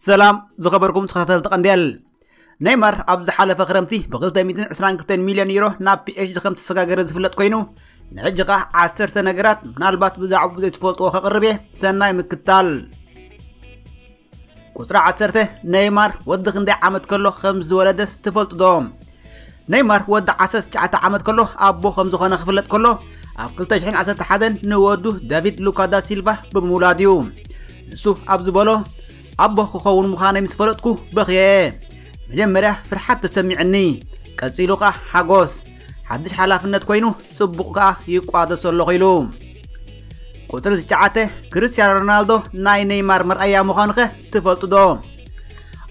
ሰላም ዝኸበርኩም ተኸታተልቲ ቀንዴል ነይማር ኣብ ዝሓለፈ ክረምቲ ብ222 ሚልዮን ዩሮ ናብ ፒኤችዲ ከም ተሰጋገረ ዝፍለጥ ኮይኑ ንሕጂ ከዓ ዓሰርተ ነገራት ምናልባት ብዛዕባ ዘይትፈልጥዎ ከቕርብ እየ ሰናይ ምክታል ቁፅሪ ዓሰርተ ነይማር ወዲ ክንደይ ዓመት ከሎ ከም ዝወለደስ ትፈልጡ ዶ? ነይማር ወዲ 19 ዓመት ከሎ ኣቦ ከም ዝኾነ ክፍለጥ ከሎ ኣብ 2011 ንወዱ ዳቪድ ሉካ ዳ ሲልቫ ብምውላድ እዩ ንሱ ኣብ ዝበሎ ኣቦ ክኸውን ምዃነይ ምስ ፈለጥኩ በኽየ መጀመርያ ፍርሓት ተሰሚዕኒ ቀፂሉ ኸዓ ሓጎስ ሓድሽ ሓላፍነት ኮይኑ ጽቡቕ ከኣ ይቋደሶ ኣለኹ ኢሉ። ቁጽሪ ትሽዓተ ክርስትያኖ ሮናልዶ ናይ ነይማር መርኣያ ምዃኑኸ ትፈልጡ ዶ?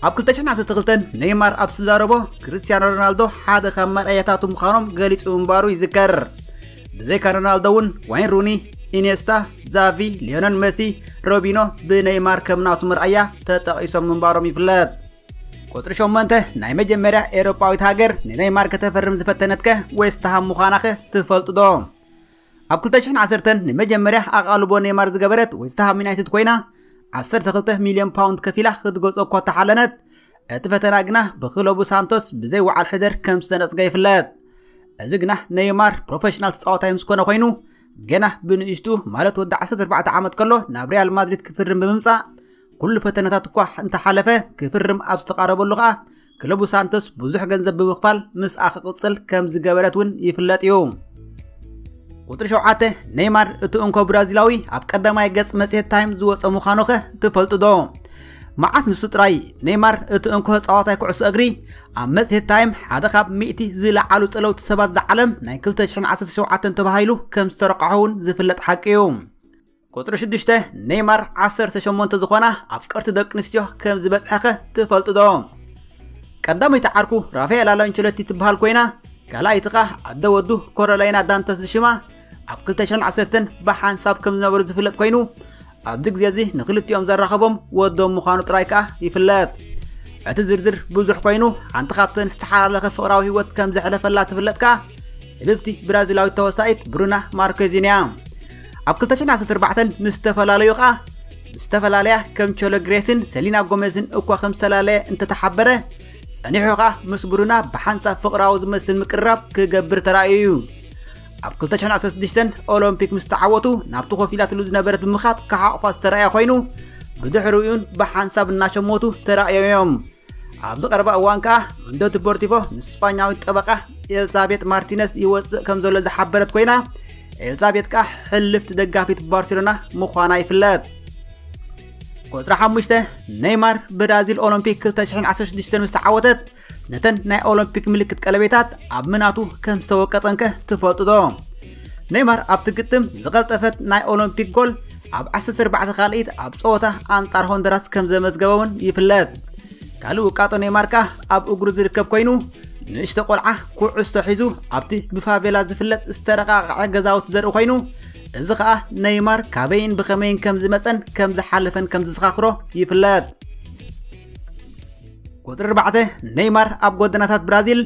ኣብ 2012 ነይማር ኣብ ዝዛረቦ ክርስትያኖ ሮናልዶ ሓደ ካብ መርኣያታቱ ምዃኖም ገሊጹ ምንባሩ ይዝከር። ብዘይካ ሮናልዶ እውን ዋይን ሩኒ፣ ኢኔስታ፣ ዛቪ፣ ሊዮነል መሲ፣ ሮቢኖ ብነይማር ከም ናቱ መርኣያ ተጠቒሶም ምንባሮም ይፍለጥ። ቁጽሪ ሸሞንተ ናይ መጀመርያ ኤውሮጳዊት ሃገር ንነይማር ከተፈርም ዝፈተነትከ ዌስትሃም ምዃናኸ ትፈልጡ ዶ? ኣብ 2010 ንመጀመርያ ኣቓልቦ ነይማር ዝገበረት ዌስትሃም ዩናይትድ ኮይና 12 ሚልዮን ፓውንድ ከፊላ ክትገጾ እኳ ተሓለነት እቲ ፈተና ግና ብክለቡ ሳንቶስ ብዘይ ወዓል ሕደር ከም ዝተነጽገ ይፍለጥ እዚ ግና ነይማር ፕሮፌሽናል ተፃዋታይ ምስ ኮነ ኮይኑ ገና ብንእሽቱ ማለት ወዲ 14 ዓመት ከሎ ናብ ሪያል ማድሪድ ክፍርም ብምምፃእ ኩሉ ፈተነታት እኳ እንተሓለፈ ክፍርም ኣብ ዝተቓረበሉ ከኣ ክለቡ ሳንቶስ ብዙሕ ገንዘብ ብምኽፋል ምስኣ ክቕጽል ከም ዝገበረት እውን ይፍለጥ እዩ ቁጥሪ ሸውዓተ ኔይማር እቲ እንኮ ብራዚላዊ ኣብ ቀዳማይ ገጽ መጽሔት ታይም ዝወፀ ምዃኑ ኸ ትፈልጡ ዶ መዓስ ንሱ ጥራይ ኔይማር እቲ እንኮ ተጻዋታይ ኩዕሶ እግሪ ኣብ መጽሔት ታይም ሓደ ካብ ሚእቲ ዝለዓሉ ጸለውቲ ሰባት ዝዓለም ናይ 2017 ተባሂሉ ከም ዝተረቃሖ እውን ዝፍለጥ ሓቂ እዩ ቁፅሪ ሽዱሽተ ኔይማር ዓሰርተ ሸሞንተ ዝኾና ኣፍቀርቲ ደቂ ኣንስትዮ ከም ዝበፅሐኸ ትፈልጡ ዶ ቀዳመይቲ ዓርኩ ራፋኤል ኣላንቸሎቲ ትበሃል ኮይና ካልኣይቲ ኸኣ ኣደ ወዱ ኮሮላይና ዳንተስ ዝሽማ ኣብ 2010 ብሓንሳብ ከም ዝነበሩ ዝፍለጥ ኮይኑ ኣብዚ ግዜ እዚ ንክልቲኦም ዘራኸቦም ወዶም ምዃኑ ጥራይ ከኣ ይፍለጥ እቲ ዝርዝር ብዙሕ ኮይኑ ሓንቲ ካብተን ዝተሓላለኸ ፍቕራዊ ህይወት ከም ዘሕለፈላ ትፍለጥ ከኣ ልብቲ ብራዚላዊት ተወሳኢት ብሩና ማርኬዚን እያ ኣብ 2014 ምስ ዝተፈላለዩ ከኣ ምስ ዝተፈላለያ ከም ቾሎ ግሬስን ሰሊና ጎሜዝን እኳ ከም ዝተላለየ እንተተሓበረ ጸኒሑ ከኣ ምስ ብሩና ብሓንሳብ ፍቕራዊ ዝመስል ምቅርራብ ክገብር ተራእዩ እዩ ኣብ 2016 ኦሎምፒክ ምስ ተዓወቱ ናብቲ ኮፍ ኢላትሉ ዝነበረት ብምኻድ ክሓቑፋ ዝተራእየ ኮይኑ ብድሕሪኡን ብሓንሳብ እናሸሞቱ ተራእዮም እዮም ኣብዚ ቀረባ እዋን ከኣ መንዶ ዲፖርቲቮ ምስ ስጳኛዊት ጠበቓ ኤልዛቤት ማርቲነስ ይወጽእ ከም ዘሎ ዝሓበረት ኮይና ኤልዛቤት ከኣ ሕልፍቲ ደጋፊት ባርሴሎና ምዃና ይፍለጥ ቁፅሪ ሓሙሽተ ነይማር ብራዚል ኦሎምፒክ 2016 ምስ ተዓወተት ነተን ናይ ኦሎምፒክ ምልክት ቀለቤታት ኣብ ምናቱ ከም ዝተወቀጠንከ ትፈልጡ ዶ ኔይማር ኣብቲ ግጥም ዝቐልጠፈት ናይ ኦሎምፒክ ጎል ኣብ 14 ካልኢት ኣብ ጸወታ ኣንጻር ሆንደራስ ከም ዘመዝገበ እውን ይፍለጥ ካልእ ውቃጦ ኔይማር ከኣ ኣብ እግሩ ዝርከብ ኮይኑ ንእሽቶ ቆልዓ ኩዕሶ ሒዙ ኣብቲ ብፋቬላ ዝፍለጥ ዝተረቃቕዐ ገዛውቲ ዘርኢ ኮይኑ እዚ ከዓ ነይማር ካበይን ብኸመይን ከም ዝመፀን ከም ዝሓለፈን ከም ዝዘኻኽሮ ይፍለጥ ቁፅሪ 4 ነይማር ኣብ ጎደናታት ብራዚል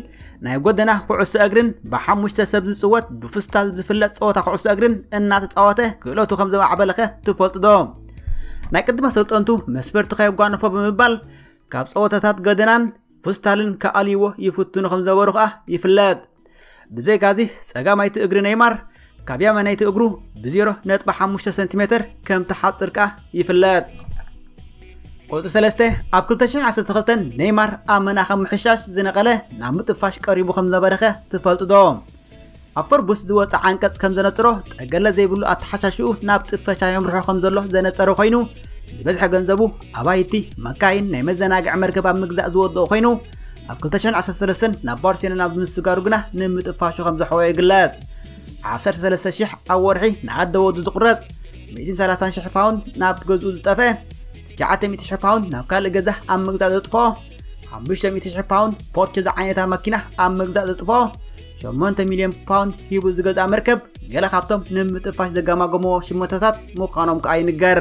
ናይ ጎደና ኩዕሶ እግርን ብሓሙሽተ ሰብ ዝፅወት ብፍስታል ዝፍለጥ ፀወታ ኩዕሶ እግርን እናተፃወተ ክእለቱ ከም ዘማዕበለኸ ትፈልጡ ዶ ናይ ቅድመ ሰልጠንቱ መስፈርቲ ከየጓንፎ ብምባል ካብ ፀወታታት ገደናን ፍስታልን ክኣልይዎ ይፍትኑ ከም ዝነበሩ ከዓ ይፍለጥ ብዘይካዚ ፀጋማይቲ እግሪ ነይማር ካብ የመነይቲ እግሩ ብ0.5 ሰንቲሜተር ከም ተሓጽር ከኣ ይፍለጥ ቁጽሪ 3 ኣብ 2012 ኔይማር ኣብ መናኸ ምሕሻሽ ዝነቐለ ናብ ምጥፋሽ ቀሪቡ ከም ነበረኸ ትፈልጡ ዶ ኣብ ፈርቡስ ዝወፀ ዓንቀጽ ከም ዘነጽሮ ጠገለ ዘይብሉ ኣተሓሻሽኡ ናብ ጥፈሻ የምርሖ ከም ዘሎ ዘነጸረ ኮይኑ ዝበዝሐ ገንዘቡ ኣባይቲ መካይን ናይ መዘናግዒ መርከብ ኣብ ምግዛእ ዝወድኦ ኮይኑ ኣብ 2013 ናብ ባርሴሎና ብምስጋሩ ግና ንምጥፋሹ ከም ዘሕወዮ ይግለጽ 13000 ኣብ ወርሒ ንኣደ ወዱ ዝቑረጽ 130000 ፓውንድ ናብ ገዝኡ ዝጠፍአ 900000 ፓውንድ ናብ ካልእ ገዛ ኣብ ምግዛእ ዘጥፎ 500000 ፓውንድ ፖርቸ ዝዓይነታ መኪና ኣብ ምግዛእ ዘጥፎ 8 ሚልዮን ፓውንድ ሂቡ ዝገዝኣ መርከብ ገለ ካብቶም ንምጥፋሽ ዘጋማገምዎ ሽመታታት ምዃኖም ከኣ ይንገር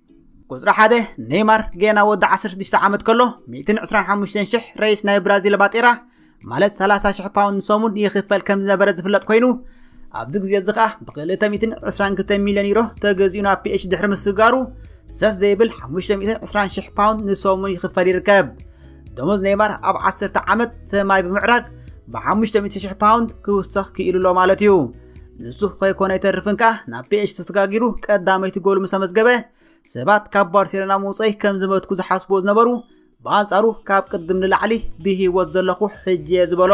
ቁፅሪ ሓደ ኔይማር ጌና ወዲ 16 ዓመት ከሎ 125,000 ረይስ ናይ ብራዚል ባጤራ ማለት 30,000 ፓውንድ ንሰሙን ይኽፈል ከም ዝነበረ ዝፍለጥ ኮይኑ ኣብዚ ግዜ እዚ ከዓ ብ222 ሚልዮን ዩሮ ተገዚኡ ናብ ፒኤች ድሕሪ ምስጋሩ ሰፍ ዘይብል 520,000 ፓውንድ ንሰሙን ይኽፈል ይርከብ ደሞዝ ኔይማር ኣብ ዓሰርተ ዓመት ሰማይ ብምዕራግ ብ500,000 ፓውንድ ክውሰኽ ክኢሉ ኣሎ ማለት እዩ ንሱ ከይኮነ ይተርፍን ከኣ ናብ ፒኤች ተሰጋጊሩ ቀዳመይቲ ጎሉ ምስ ኣመዝገበ ሰባት ካብ ባርሴሎና ምውፀይ ከም ዝመትኩ ዝሓስቦ ዝነበሩ ብኣንጻሩ ካብ ቅድም ንላዕሊ ብህይወት ዘለኹ ሕጂ እየ ዝበሎ